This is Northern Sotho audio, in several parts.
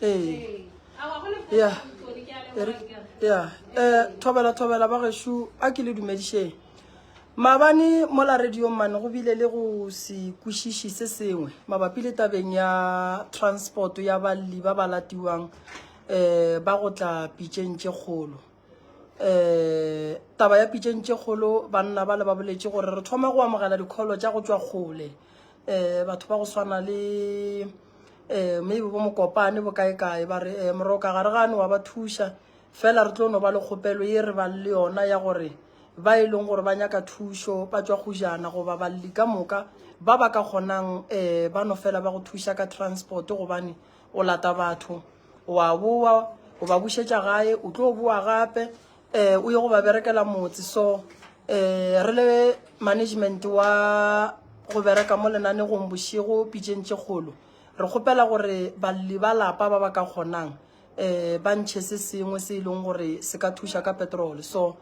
ee ya ya um thobela thobela ba gešu a ke le dumedišeng maabane mo la radio mane go bile le go se kwešiši se sengwe mabapi le tabeng ya transport ya balli ba ba latiwang um ba go tla pitšeng tše kgolo um taba ya pitšeng tše kgolo banna ba le ba boletše gore re thoma go amogela dikholo tša go tšwa kgole um batho ba go swana le um maybe bo mokopane bo kae kae ba re um moroka ga re gane wa ba thuša fela re tlo no ba le kgopelo ye re bang le yona ya gore ba e leng gore ba nyaka thušo ba tšwa gojana goba balli ka moka ba ba ka kgonang um ba no fela ba go thuša ka transport gobane o lata batho o a boa o ba bušetša gae o tlo boa gape um o ye go ba berekela motse so um re le management wa go bereka mo lenanegong bošego pitseng tše kgolo re kgopela gore balli ba lapa ba ba ka kgonang um ba ntšhe se sengwe se e leng gore se ka thuša ka petrol so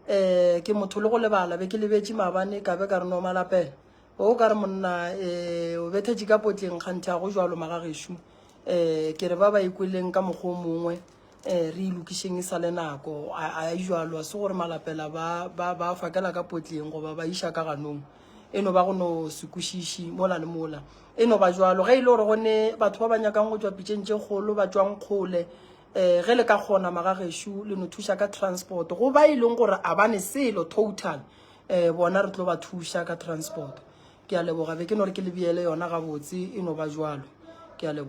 um ke motho le go lebala be ke lebetše maabane ka be ka re no malapela O ka re monna e, o betha dikapotleng kganthe a go jalo magagešu. Um e, ke re ba ba ikweleng ka mokgwa o mongwe um re ilokišeng e sa le nako a a jalo se gore malapela ba ba ba fakela ka potleng goba ba iša ka ganong e no ba go no se kwešiši mola le mola e no ba jalo ge e le gore go ne batho ba ba nyakang go tšwa pitšeng tše kgolo ba tšwang kgole um ge le ka kgona magagešu le no thuša ka transport go ba e leng gore a ba ne selo total um bona re tlo ba thuša ka transport ke a leboga be ke no re ke lebiele yona gabotse e no ba jwalo ke a leboga